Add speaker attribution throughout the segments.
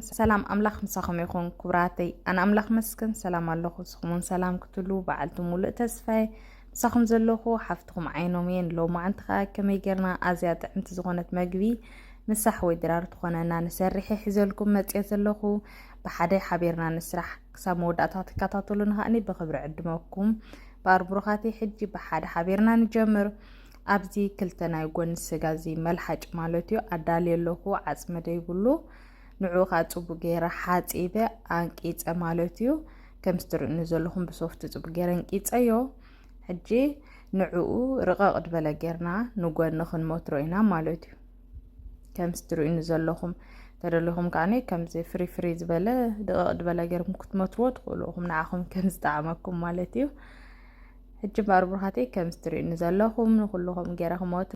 Speaker 1: ሰላም ኣምላኽ ምሳኹም ይኹን ክብራተይ ኣነ ኣምላኽ መስክን ሰላም ኣለኹ ስኹምን ሰላም ክትሉ በዓልቲ ሙሉእ ተስፋይ ምሳኹም ዘለኹ ሓፍትኹም ዓይኖም እየን ሎማዓንቲ ከዓ ከመይ ጌርና ኣዝያ ጥዕምቲ ዝኾነት መግቢ ምሳሕ ወይ ድራር ትኾነና ንሰርሒ ሒዘልኩም መፅኦ ዘለኹ ብሓደ ሓቢርና ንስራሕ ክሳብ መወዳእታ ትከታተሉ ንኸኣኒ ብክብሪ ዕድመኩም ብኣርብሩኻቲ ሕጂ ብሓደ ሓቢርና ንጀምር ኣብዚ ክልተ ናይ ጎኒ ስጋ እዚ መልሓጭ ማለት እዩ ኣዳልየ ኣለኹ ዓፅሚ ደይብሉ ንዑ ከዓ ፅቡቅ ገይረ ሓፂበ ኣንቂፀ ማለት እዩ ከምዚ ትርእኒ ዘለኹም ብሶፍቲ ፅቡቅ ገይረ እንቂፀዮ ሕጂ ንዕኡ ርቐቕ ድበለ ጌርና ንጎኒ ክንመትሮ ኢና ማለት እዩ ከምዚ ትርእዩኒ ዘለኹም ተደሊኹም ከዓኒ ከምዚ ፍሪ ፍሪ ዝበለ ድቐቕ ድበለ ጌርኩም ክትመትዎ ትኽእሉ ኢኹም ንዓኹም ከም ዝጠዓመኩም ማለት እዩ ሕጂ እምበኣር ብሩኻተይ ከምዚ ትርእዩኒ ዘለኹም ንኩልኹም ገይረ ክመት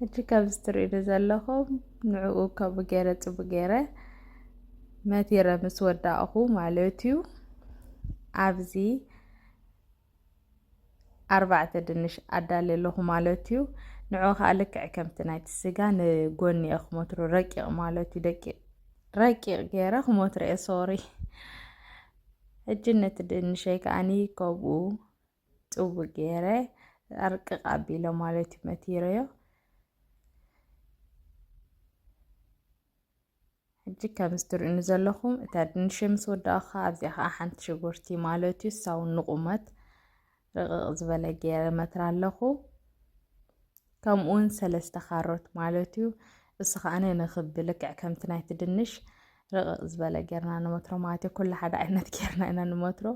Speaker 1: ሕጂ ከምዚ ትርእዩኒ ዘለኹም ንዕኡ ከምኡ ገይረ ጽቡ ገይረ መቲረ ምስ ወዳእኹ ማለት እዩ ኣብዚ ኣርባዕተ ድንሽ ኣዳሊ ኣለኹ ማለት እዩ ንዑ ከዓ ልክዕ ከምቲ ናይቲ ስጋ ንጎኒ እየ ክሞትሮ ረቂቕ ማለት እዩ ደቂ ረቂቕ ገይረ ክሞትሮ እየ ሶሪ ሕጂ ነቲ ድንሸይ ከዓኒ ከምኡ ጽቡቅ ገይረ ኣርቅቅ ኣቢሎ ማለት እዩ መቲረዮ ሕጂ ከምዚ ትርእኑ ዘለኹም እታ ድንሽ ምስ ወዳእኻ ኣብዚኣ ከዓ ሓንቲ ሽጉርቲ ማለት እዩ ሳው ንቁመት ርቕቕ ዝበለ ገይረ መትራ ኣለኹ ከምኡውን ሰለስተ ካሮት ማለት እዩ እሱ ከዓነ ንክቢ ልክዕ ከምቲ ናይቲ ድንሽ ርቕቕ ዝበለ ጌርና ንመትሮ ማለት እዩ ኩሉ ሓደ ዓይነት ጌርና ኢና ንመትሮ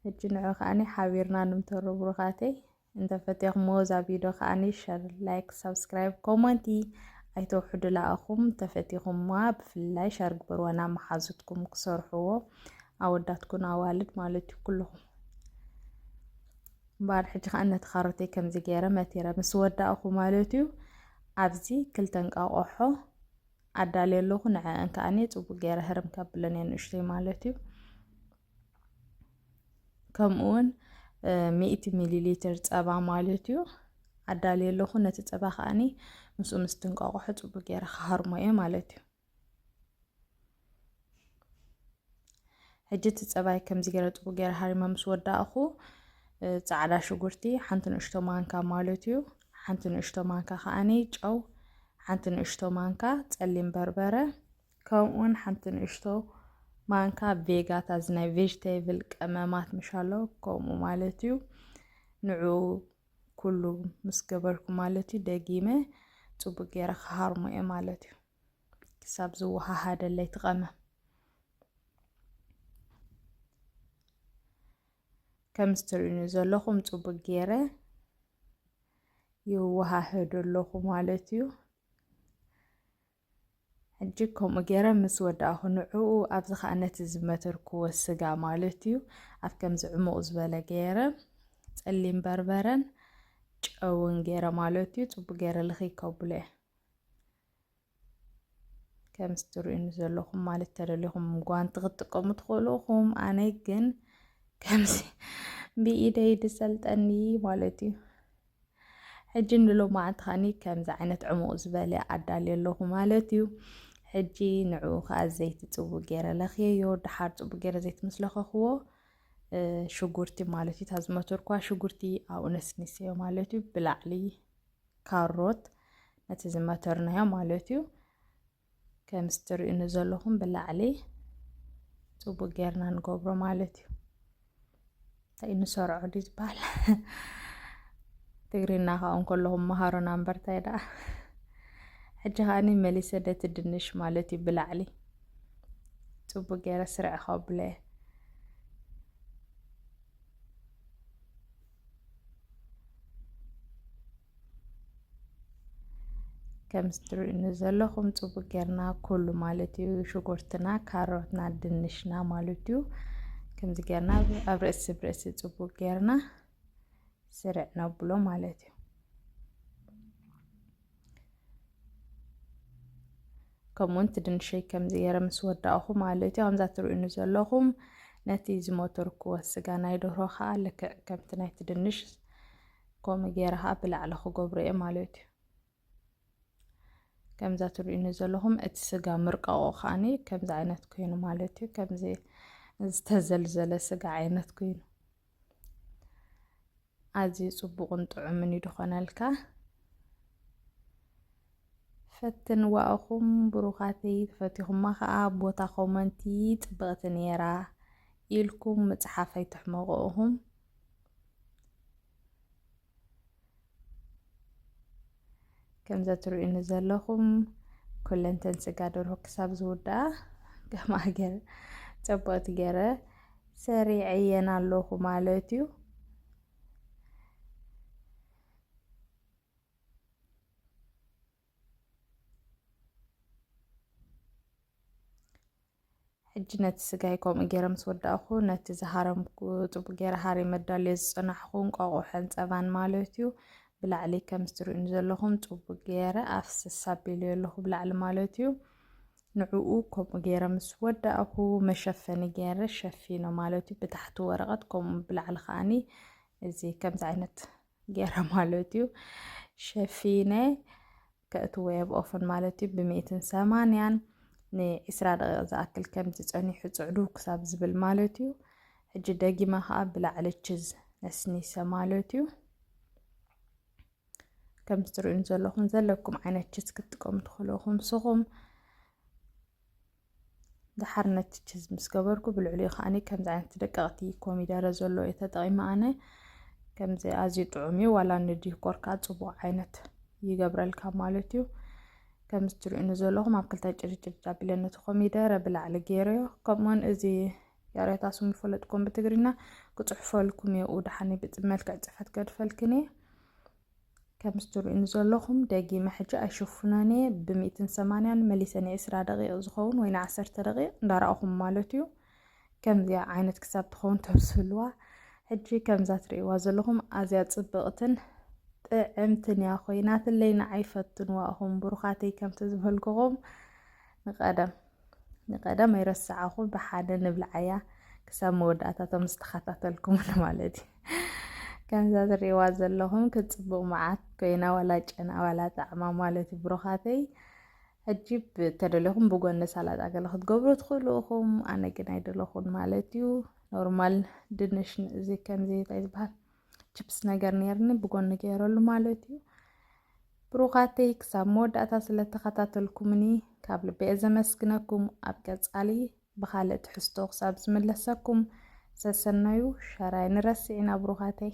Speaker 1: ሕጂ ንዑ ከኣኒ ሓቢርና ንምተሩ ብሩኻተይ እንተ ፈቴኹምዎ እዛ ቪድዮ ከኣኒ ሸር ላይክ ሳብስክራይብ ኮመንቲ ኣይተውሕዱ ለኣኹም ተፈቲኹምዋ ብፍላይ ሸር ግበርዋ ናብ መሓዙትኩም ክሰርሕዎ ኣወዳትኩን ኣዋልድ ማለት እዩ ኩልኹም እምበኣር ሕጂ ከዓ ነቲ ካሮተይ ከምዚ ገይረ መቲረ ምስ ወዳእኹ ማለት እዩ ኣብዚ ክልተ እንቃቆሖ ኣዳልየ ኣለኹ ንዐአን ከዓኒ ፅቡቅ ገይረ ህርም ከብለን እየ ንእሽተይ ማለት እዩ ከምኡ እውን ሚእቲ ሚሊ ሊትር ፀባ ማለት እዩ ኣዳልየ ኣለኹ ነቲ ፀባ ከዓኒ ምስኡ ምስ ትንቋቑሖ ፅቡቅ ገይረ ክሃርሞ እየ ማለት እዩ ሕጂ እቲ ፀባይ ከምዚ ገይረ ፅቡቅ ገይረ ሃሪመ ምስ ወዳእኹ ፃዕዳ ሽጉርቲ ሓንቲ ንእሽቶ ማንካ ማለት እዩ ሓንቲ ንእሽቶ ማንካ ከዓኒ ጨው ሓንቲ ንእሽቶ ማንካ ፀሊም በርበረ ከምኡውን ሓንቲ ንእሽቶ ማንካ ቬጋታ እዚ ናይ ቬጅቴብል ቀመማት ምሻሎ ከምኡ ማለት እዩ ንዑ ኩሉ ምስ ገበርኩ ማለት እዩ ደጊመ ፅቡቅ ገይረ ክሃርሞ እየ ማለት እዩ ክሳብ ዝወሃሃደለይ ትቐመም ከም ዝትርእዩኒ ዘለኹም ፅቡቅ ገይረ ይወሃህድ ኣለኹ ማለት እዩ ሕጂ ከምኡ ገይረ ምስ ወዳእኹ ንዕኡ ኣብዚ ከዓ ነቲ ዝመተርክዎ ስጋ ማለት እዩ ኣብ ከምዚ ዕሙቕ ዝበለ ገይረ ጸሊም በርበረን ጨውን ገይረ ማለት እዩ ጽቡቅ ገይረ ልኽይ ከብሎ እየ ከምዚ ትርእዩኒ ዘለኹም ማለት ተደሊኹም ጓንቲ ክትጥቀሙ ትኽእሉ ኹም ኣነ ግን ከምዚ ብኢደይ ድሰልጠኒ ማለት እዩ ሕጂ ንሎማዓንቲ ኸኒ ከምዚ ዓይነት ዕሙቕ ዝበለ ኣዳልየ ኣለኹ ማለት እዩ ሕጂ ንዕኡ ከዓ ዘይቲ ፅቡቅ ገይረ ለኽየዮ ድሓር ፅቡቅ ገይረ ዘይቲ ምስ ለኸኽዎ ሽጉርቲ ማለት እዩ ታዝመትርኳ ሽጉርቲ ኣብኡ ነስኒሰዮ ማለት እዩ ብላዕሊ ካሮት ነቲ ዝመተርናዮ ማለት እዩ ከምዚ ትርእዩኒ ዘለኹም ብላዕሊ ፅቡቅ ጌርና ንገብሮ ማለት እዩ እንታይ ንሰርዖ ድዩ ዝበሃል ትግርና ከዓ እንከለኹም መሃሮና እምበር እንታይ ደኣ ሕጂ ከዓኒ መሊሰ ደቲ ድንሽ ማለት እዩ ብላዕሊ ፅቡቅ ጌረ ስርዕ ከብለ ከም ትርእዩኒ ዘለኹም ጽቡቅ ጌርና ኩሉ ማለት እዩ ሽጉርትና ካሮትና ድንሽና ማለት እዩ ከምዚ ጌርና ኣብ ርእሲ ብርእሲ ጽቡቅ ጌርና ስርዕ ነብሎ ማለት እዩ ከምኡውን ትድንሸይ ከምዚ ገይረ ምስ ወዳእኹ ማለት እዩ ከምዛ ትርእዩኒ ዘለኹም ነቲ ዝሞተርክዎ ስጋ ናይ ደርሆ ከዓ ልክዕ ከምቲ ናይ ትድንሽ ከምኡ ገይረ ከዓ ብላዕሊ ክገብሩ እየ ማለት እዩ ከምዛ ትርእዩኒ ዘለኹም እቲ ስጋ ምርቀቑ ከዓኒ ከምዚ ዓይነት ኮይኑ ማለት እዩ ከምዚ ዝተዘልዘለ ስጋ ዓይነት ኮይኑ ኣዝዩ ፅቡቕን ጥዑምን እዩ ድኾነልካ ፈትንዋ እኹም ብሩኻተይ ተፈቲኹማ ከኣ ቦታ ኮመንቲ ጽብቅቲ ኔራ ኢልኩም ምጽሓፍ ኣይትሕመቁ እኹም። ከምዛ ትርእዩኒ ዘለኹም ኩለንተን ስጋ ደርሆ ክሳብ ዝውድኣ ከም ሃገር ጸብቕቲ ገረ ሰሪዐየን ኣለኹ ማለት እዩ። ሕጂ ነቲ ስጋይ ከምኡ ገይረ ምስ ወዳእኹ ነቲ ዝሃረምኩ ጽቡቅ ገይረ ሃሪ መዳልዮ ዝጸናሕኹ እንቋቑሖን ጸባን ማለት እዩ ብላዕሊ ከም ዝትርእዩኒ ዘለኹም ጽቡቅ ገይረ ኣፍስስ ኣቢልዮ ኣለኹ ብላዕሊ ማለት እዩ ንዕኡ ከምኡ ገይረ ምስ ወዳእኹ መሸፈኒ ገይረ ሸፊኖ ማለት እዩ ብታሕቲ ወረቐት ከምኡ ብላዕሊ ከዓኒ እዚ ከምዚ ዓይነት ገይረ ማለት እዩ ሸፊነ ከእትዎ የብኦፍን ማለት እዩ ብሚእትን ሰማንያን ንዒስራ ደቂቕ ዝኣክል ከምዚ ጸኒሑ ጽዕዱ ክሳብ ዝብል ማለት እዩ ሕጂ ደጊመ ከዓ ብላዕሊ ችዝ ነስኒሰ ማለት እዩ ከም ትርእዩን ዘለኹም ዘለኩም ዓይነት ችዝ ክትጥቀሙ ትኽእሉ ኢኹም ንስኹም ደሓር ነቲ ችዝ ምስ ገበርኩ ብልዕሊኡ ከዓኒ ከምዚ ዓይነት ደቀቕቲ ኮሚደረ ዘሎ እየ ተጠቒመ ኣነ ከምዚ ኣዝዩ ጥዑም እዩ ዋላ ንዲኮር ከዓ ፅቡቅ ዓይነት ይገብረልካ ማለት እዩ ከምዚ ትሪኡኒ ዘለኹም ኣብ ክልተ ጭርጭር ጃቢለ ነቲ ኮሚደረ ብላዕሊ ገይረዮ ከምኡውን እዚ ያሬታ ስሙ ይፈለጥኩም ብትግርኛ ክፅሑፈልኩም እየ ኡድሓኒ ብመልክዕ ፅፈት ገድፈልክን እየ ከምስ ትርእዩኒ ዘለኹም ደጊመ ሕጂ ኣይሽፍኖን እየ ብሚእትን ሰማንያን መሊሰ ንዕስራ ደቂቕ ዝኸውን ወይ ንዓሰርተ ደቂቕ እንዳረኣኹም ማለት እዩ ከምዚኣ ዓይነት ክሳብ ትኸውን ተብስልዋ ሕጂ ከምዛ ትርእይዋ ዘለኹም ኣዝያ ጽብቕትን ጥዕምትን እያ ኮይናትለይ ንዓይ ፈትንዋ እኹም ብሩኻተይ ከምቲ ዝበልክኹም ንቐደም ንቀደም ኣይረሳዓኹ ብሓደ ንብልዓያ ክሳብ መወዳእታቶ ምስ ተኸታተልኩም ማለት እዩ ከምዛ ዝሪእዋ ዘለኹም ክፅቡቕ መዓት ኮይና ዋላ ጨና ዋላ ጣዕማ ማለት እዩ ብሩኻተይ ሕጂ ተደለኹም ብጎኒ ሳላጣ ገለ ክትገብሩ ትኽእሉ ኢኹም ኣነ ግን ኣይደለኹን ማለት እዩ ኖርማል ድንሽ እዚ ከምዚ እንታይ ዝበሃል ችፕስ ነገር ነርኒ ብጎኒ ገይረሉ ማለት እዩ ብሩኻተይ ክሳብ መወዳእታ ስለ ተኸታተልኩምኒ ካብ ልበየ ዘመስግነኩም ኣብ ቀጻሊ ብኻልእ ትሕዝቶ ክሳብ ዝምለሰኩም ሰሰናዩ ሸር ኣይንረስዕና ብሩኻተይ።